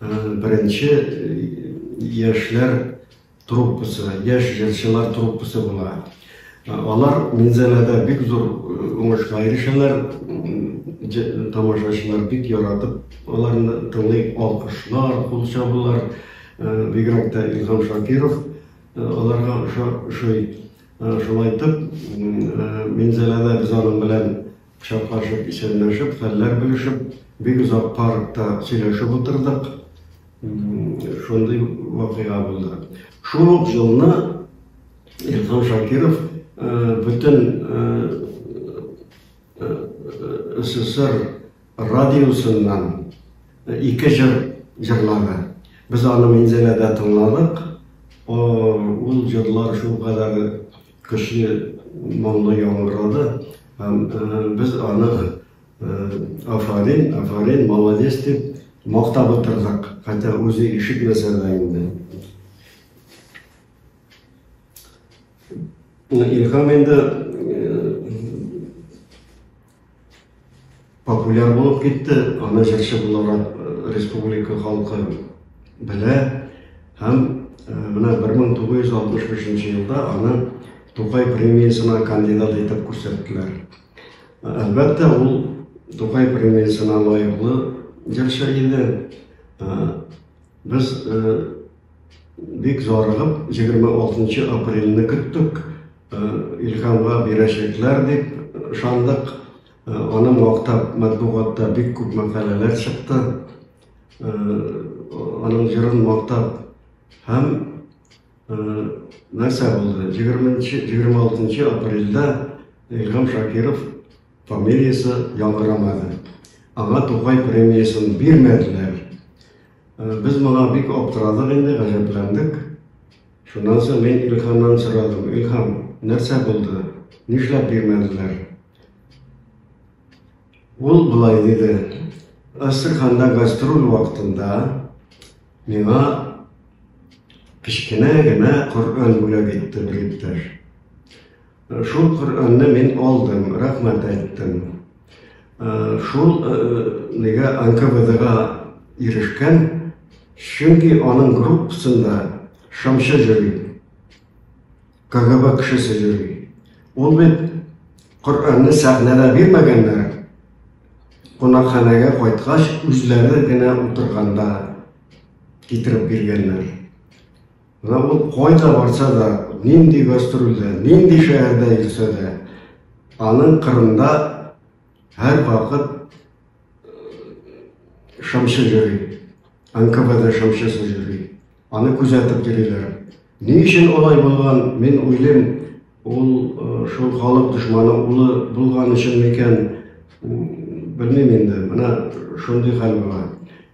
Беренче яшьләр труппасы, яшь җырчылар труппасы була. Алар Минзәләдә бик зур уңышка ирешәләр. Тамашачылар бик яратып, аларны тыңлый, алкышлар, кул чабулар. Бигрәк тә Илһам Шакиров аларга ошый. Шулай итеп, Минзәләдә без аның белән Кочаклашып, исәнләшеп, хәлләр белешеп, бик озак паркта сөйләшеп утырдык. Шундый вакыйга булды. Шул ук елны Илһам Шакиров бөтен СССР радиосыннан ике җыр җырлады. Без аны Минзәләдә тыңладык. Ул җырлар шул кадәр көчле моңлы яңгырады. Һәм без аны афарин, афарин, молодец дип мактап утырдык, хәтта үзе ишетмәсә дә инде. Илһам инде Популяр булып китте, аны җырчы буларак республика халкы белә һәм менә 1965 елда аны Тукай премиясенә кандидат итеп күрсәттеләр. Әлбәттә, ул Тукай премиясенә лаеклы җырчы иде. Без бик зарыгып 26 апрельне көттек. Илһамга бирәчәкләр дип ышандык. Аны мактап матбугатта бик күп мәкаләләр чыкты. Аның җырын мактап һәм нәрсә булды? 26 апрельдә Илһам Шакиров фамилиясе яңгырамады. Аңа Тукай премиясын бирмәделәр. Без моңа бик аптырадык инде, гаҗәпләндек. Шуннан соң мин Илһамнан сорадым, Илһам, нәрсә булды? Нишләп бирмәделәр? Ул болай диде, Астраханда гастроль вакытында миңа кечкенә генә Коръән бүләк итте бер иптәш. Шул Коръәнне мин алдым, рәхмәт әйттем. Шул нигә НКВДга ирешкән, чөнки аның группасында шамчы йөри. КГБ кешесе йөри. Ул бит Коръәнне сәхнәдә бирмәгәннәр. Кунакханәгә кайткач, үзләре генә утырганда китереп биргәннәр. Менә ул кайда барса да, нинди гастрольдә, нинди шәһәрдә йөрсә дә, аның кырында һәр вакыт шамчы йөри. НКВД шамчысы йөри. Аны күзәтеп йөриләр. Ни өчен алай булган, мин уйлыйм, ул э, шул халык дошманы улы булган өчен микән, белмим инде. Менә шундый хәл була.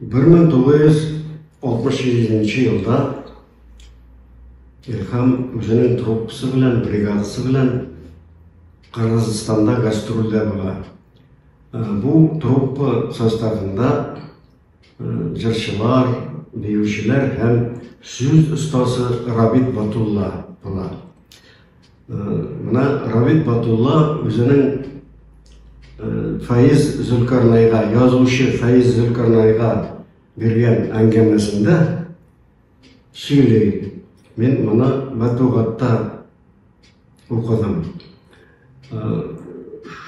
1967 елда Илһам үзенең труппасы белән, бригадасы белән Кыргызстанда гастрольдә була. Э, бу труппа составында э, җырчылар, биючеләр һәм сүз остасы Рабит Батулла була. Менә Равит Батулла үзенең Фаиз Зөлкарнайга, язучы Фаиз Зөлкарнайга биргән әңгәмәсендә сөйли. Мин моны мәтбугатта укыдым.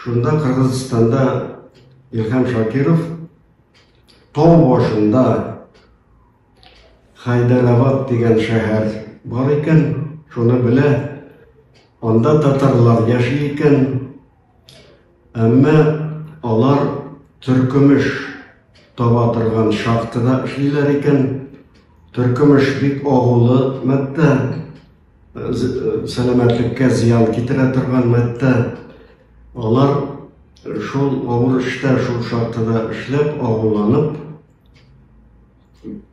Шунда Кыргызстанда Илһам Шакиров тау башында Хайдарабад дигән шәһәр бар икән, шуны белә. Анда татарлар яши икән. Әмма алар төркемеш таба торган шахтада эшлиләр икән. Төркемеш бик агулы матдә, сәламәтлеккә зыян китерә торган матдә. Алар шул авыр эштә, шул шахтада эшләп, агуланып,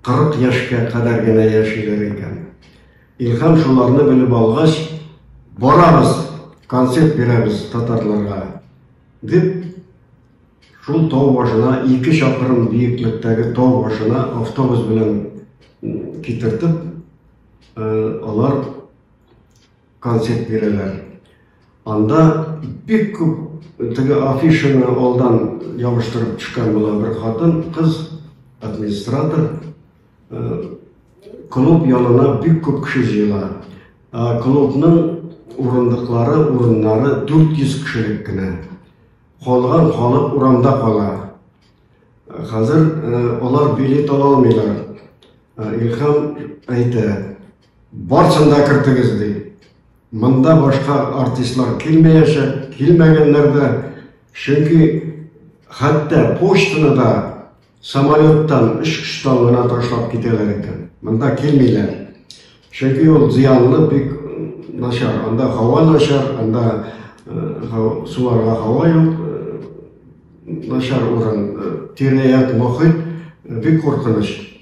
40 яшькә кадәр генә яшиләр икән. Илһам шуларны белеп алгач, барабыз, концерт бирәбез татарларга, дип шул тау башына, ике чакрым биеклектәге тау башына автобус белән китертеп, алар концерт бирәләр. Анда бик күп теге афишаны алдан ябыштырып төшкән була бер хатын, кыз администратор. Э, клуб янына бик күп кеше җыела. Э, клубның урындыклары, урыннары 400 кешелек кенә. Калган халык урамда кала. Э, хәзер алар билет ала алмыйлар. Илһам әйтә, Барсын да кертегез, ди. Монда башка артистлар килмәячәк, килмәгәннәр дә, чөнки хәтта почтаны да самолеттан, очкычтан гына ташлап китәләр икән. Монда килмиләр. Чөнки ул зыянлы бик начар. Анда һава начар, анда суларга һава юк, начар урын, тирә-як мохит бик куркыныч.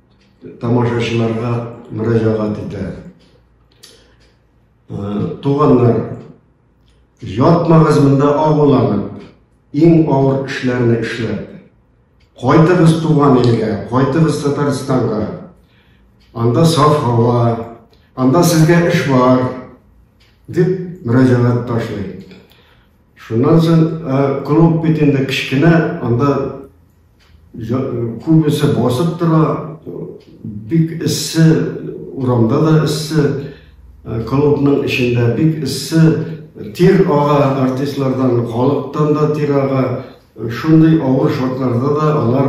тамашачыларга мөрәҗәгать итә. Туганнар, ятмагыз монда агуланып, иң авыр эшләрне эшләп. Кайтыгыз туган илгә, кайтыгыз Татарстанга. Анда саф һава, анда сезгә эш бар, дип мөрәҗәгать ташлый. Шуннан соң клуб бит инде кечкенә, анда күбесе басып тора, бик эссе, урамда да эссе, клубның эчендә бик эссе, тир ага артистлардан, халыктан да тир ага. Шундый авыр шартларда да алар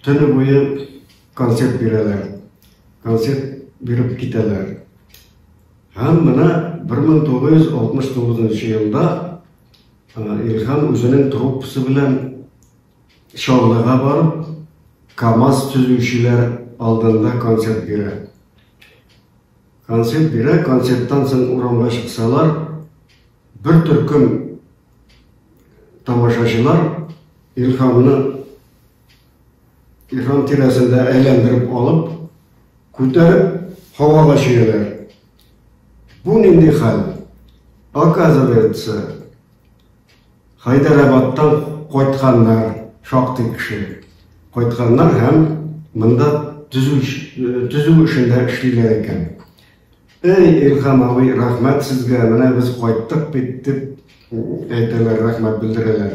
төне буе концерт бирәләр. Концерт биреп китәләр. Һәм менә 1969 елда Илһам үзенең труппасы белән Чаллыга барып, КАМАЗ төзүчеләр алдында концерт бирә. Концерт бирә, концерттан соң урамга чыксалар, бер төркем тамашачылар Илһамны Ихрам тирәсендә әйләндереп алып, күтәреп, һавага чөяләр. Бу нинди хәл? Оказывается, Хайдарабадтан кайтканнар, шактый кеше. Кайтканнар һәм монда төзү э, эшендә эшлиләр икән. Эй, Илхам абый, рәхмәт сезгә, менә без кайттык бит дип әйтәләр, рәхмәт белдерәләр.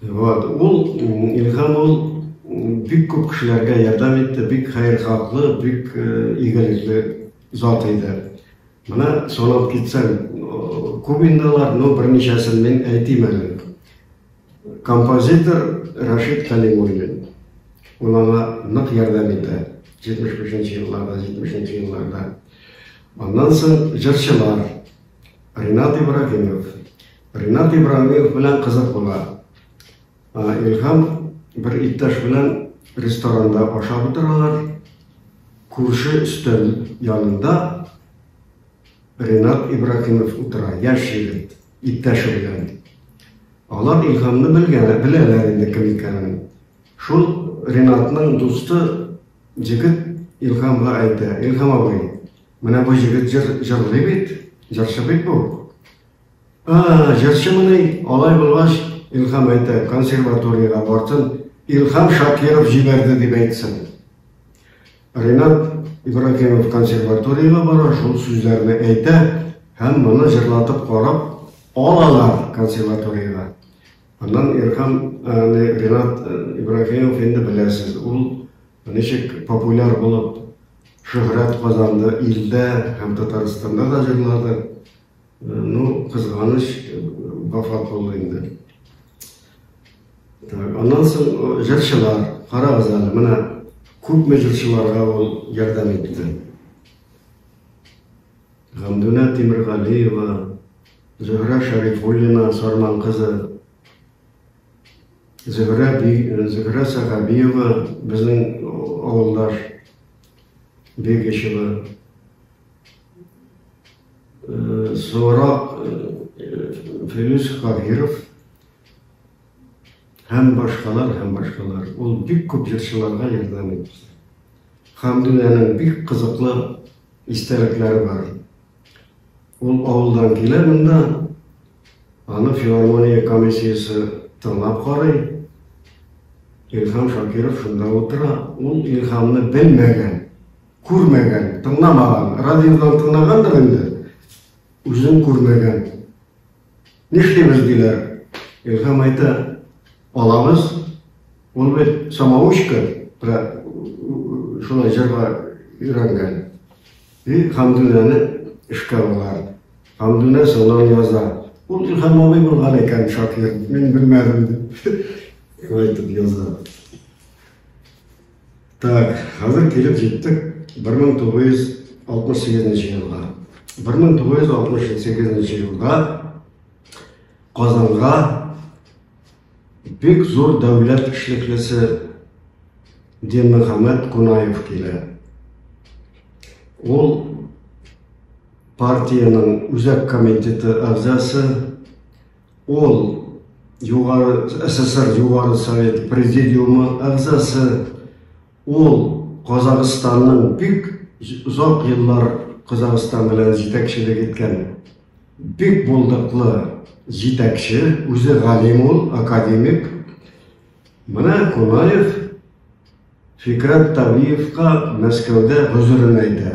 Вот, ул Илһам ул бик күп кешеләргә ярдәм итте, бик хәер хаклы, бик э, игелекле зат иде. Менә санап китсәм, э, күп инде алар, но берничәсен мин әйтим әле. Композитор Рашид Калимуллин. Ул аңа нык ярдәм итә. 75-нче елларда, 70-нче елларда. Аннан соң җырчылар, Ринат Ибрагимов. Ринат Ибрагимов белән кызык була. Илһам бер иптәш белән ресторанда ашап утыралар. Күрше өстәл янында Ринат Ибрагимов утыра, яшь егет, иптәше белән. Алар Илһамны белгәннәр, беләләр инде кем икәнен. Шул Ринатның дусты егет Илһамга әйтә, Илһам абый, Менә бу егет җыр җырлый бит, җырчы бит бу. А, җырчы мыни, алай булгач, Илхам әйтә, консерваториягә бартын, Илхам Шакиров җибәрде дип әйтсен. Ринат Ибрагимов консерваториягә бара, шул сүзләрне әйтә һәм моны җырлатып карап алалар консерваториягә. Аннан Илхам Ринат Ибрагимов инде беләсез, ул ничек популяр булып Шөһрәт казанды илдә һәм Татарстанда да җырлады. Ну, кызганыч, вафат булды инде. Аннан соң җырчылар, карагыз әле, менә күпме җырчыларга ул ярдәм итте. Гамдүнә Тимиргалиева, Зөһрә Шәрифуллина, Сарман кызы, Зөһрә би, Зөһрә Сәгабиева безнең авылдаш Бегичева. Соңрак Филүс Каһиров һәм башкалар һәм башкалар. Ул бик күп җырчыларга ярдәм итте. Хәмдүнәнең бик кызыклы истәлекләре бар. Ул авылдан килә монда, аны филармония комиссиясе тыңлап карый. Илһам Шакиров шунда утыра. Ул Илһамны белмәгән, күрмәгән, тыңламаган. Радиодан тыңлагандыр инде, үзен күрмәгән. Нишлибез, диләр. Илһам әйтә, алабыз. Ул бит самоучка, шулай җырга өйрәнгән. И Хәмдүнәне эшкә алалар. Хәмдүнә сынау яза. Ул Илһам абый булган икән шакир, мин белмәдем, дип әйтеп яза. Так, хәзер килеп җиттек 1968 елга. 1968 елда Казанга бик зур дәүләт эшлеклесе Динмөхәммәд Кунаев килә. Ул партиянең үзәк комитеты әгъзасы Ул Югары СССР Югары Совет Президиумы әгъзасы. Ул Казахстанның бик озак еллар Казахстан белән җитәкчелек иткән бик булдыклы җитәкче, үзе галим ул, академик. Менә Кунаев Фикрәт Тавиевка Мәскәүдә гозерен әйтә.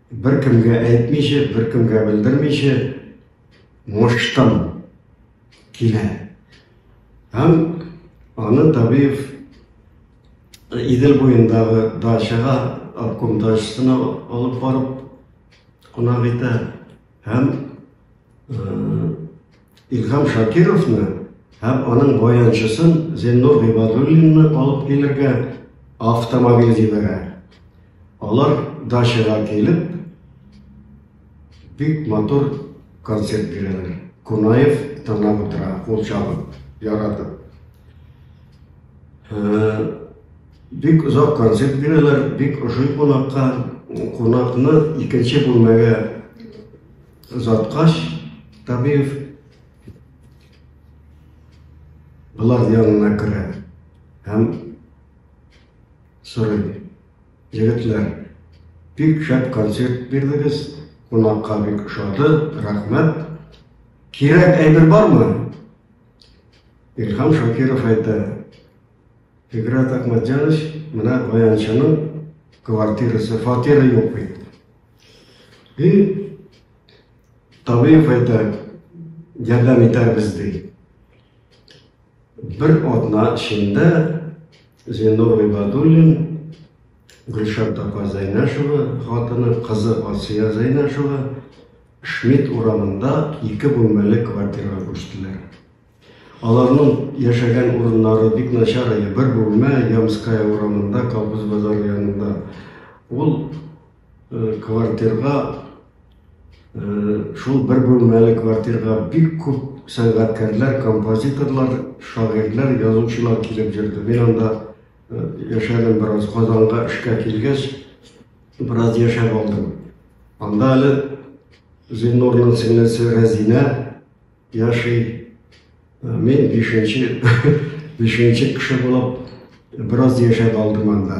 Беркемгә әйтмичә, беркемгә белдермичә муштым килә. Һәм аны Табиев Идел буендагы дачага обком дачасына алып барып кунак итә һәм Илһам Шакировны һәм аның баянчысын Зеннур Гыйбадуллинны алып килергә автомобиль җибәрә. Алар дачага килеп, бик матур концерт бирәләр. Кунаев тыңлап утыра, ул чабып, яратып. Бик озак концерт бирәләр, бик ошый кунакка. Кунакны икенче бүлмәгә Озаткач, табиев болар янына керә һәм сорый. Егетләр, бик шәп концерт бирдегез, кунакка бик ошады, рәхмәт. Кирәк әйбер бармы? Илһам Шакиров әйтә. Фиграт Ахмадьянович, менә баянчының квартирасы, фатиры юк бит. И табиб әйтә, ярдәм итәрбез ди. Бер атна эчендә Зинур Гыйбадуллин, Гөлшат апа Зәйнәшева, хатыны, кызы Асия Зәйнәшева Шмидт урамында ике бүлмәле квартирага күчтеләр. Аларның яшәгән урыннары бик начар иде. Бер бүлмә Ямская урамында, Колхоз базары янында. Ул Квартирга, шул бер бүлмәле квартирга бик күп сәнгатькәрләр, композиторлар, шагыйрьләр, язучылар килеп йөрде. Мин анда яшәдем бераз, Казанга эшкә килгәч, бераз яшәп алдым. Анда әле Зиннурның сеңлесе Рәзинә яши. Мин бишенче, бишенче кеше булып бераз яшәп алдым анда.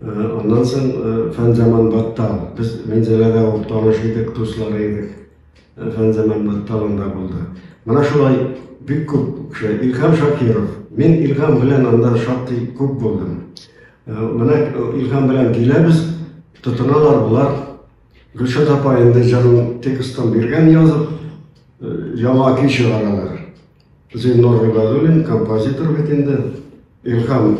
Аннан соң Фәнзаман Баттал. Без Минзәләдә ул таныш идек, дуслары идек. Фәнзаман Батталында булды. Менә шулай бик күп кеше. Илһам Шакиров. Мин Илһам белән анда шактый күп булдым. Менә Илһам белән киләбез, тотыналар болар. Гөлшат апа инде җырын текстын биргән язып, яңа көй чыгаралар. Зиннур Гыйбадуллин композитор бит инде. Илһам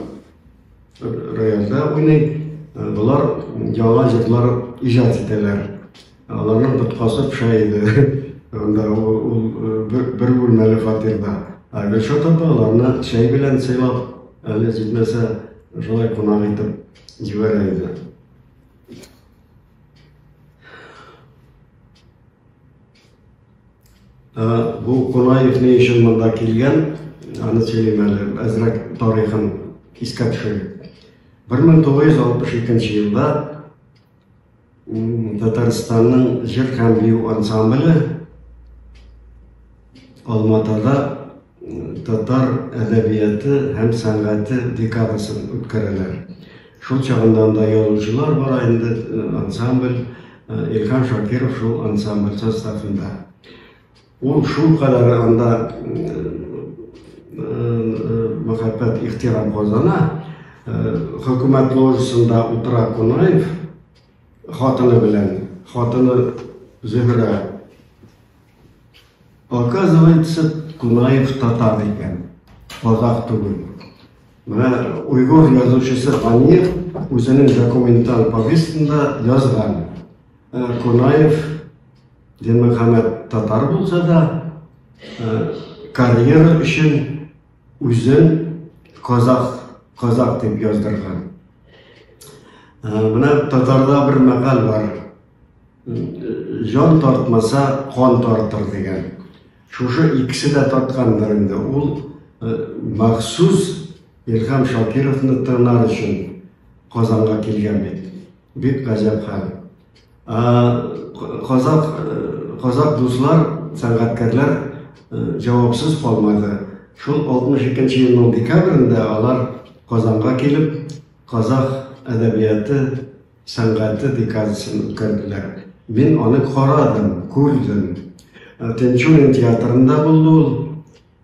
рояльдә уйный. Болар яңа җырлар иҗат итәләр. Аларның тоткасы пыша иде. Анда ул бер бүлмәле фатирда. Ә Гөлшат апа аларны чәй белән сыйлап, әле җитмәсә, шулай кунак итеп җибәрә иде. Ә, бу Кунаев ни өчен монда килгән, аны сөйлим әле, әзрәк тарихын искә төшерим. 1962 елда Татарстанның җыр һәм бию ансамбле Алматада татар әдәбияты һәм сәнгате декадасын үткәрәләр. Шул чагында анда язучылар бара инде, э, ансамбль, э, Илһам Шакиров шул ансамбль составында. Ул шул кадәр анда э, мәхәббәт ихтирам казана, хөкүмәт ложасында утыра Кунаев, Хатыны белән, хатыны Зөһрә. Оказывается, Кунаев татар икән, казах түгел. Менә уйгур язучысы Анир үзенең документаль повестында язган. Э, Кунаев Динмөхәммәд татар булса да, э, карьера өчен Үзен казах, казах дип яздырган. Менә татарда бер мәкаль бар. Җан тартмаса, кан тартыр дигән. Шушы икесе дә тарткандыр инде. Ул махсус Илһам Шакировны тыңлар өчен Казанга килгән бит. Бик гаҗәп хәл. Казак, казак дуслар, сәнгатькәрләр җавапсыз калмады. Шул 62 елның декабрендә алар Казанга килеп, казах әдәбияты, сәнгате декадасын үткәрделәр. Мин аны карадым, күрдем. Тинчурин театрында булды ул.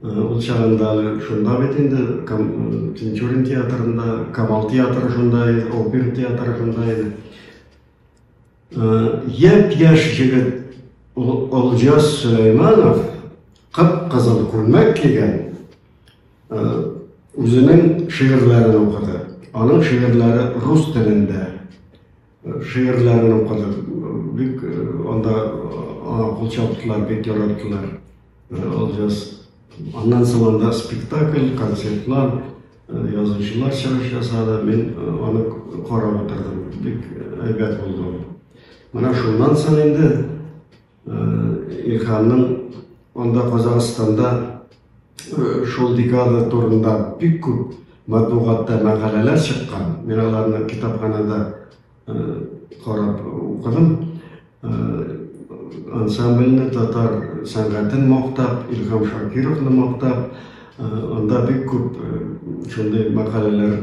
Ул чагында шунда бит инде Тинчурин театрында, Камал театры шунда иде, опер театры шунда иде. Япь-яшь җегет Олжас Сөләйманов кып-кызыл күлмәк кигән үзенең шигырьләрен укыды. Аның шигырьләре рус телендә. Шигырьләрен укыдык. Бик анда аңа кул чаптылар, бик яраттылар. Алҗас. Аннан соң анда спектакль, концертлар, язучылар чыгыш ясады. Мин аны карап утырдым. Бик әйбәт булды. Менә шуннан соң инде Илханның анда Казахстанда шул декада турында бик күп матбугатта мәкаләләр чыккан. Мин аларны китапханада карап укыдым. Ансамбльне татар сәнгатен мактап, Илхам Шакировны мактап, анда бик күп шундый мәкаләләр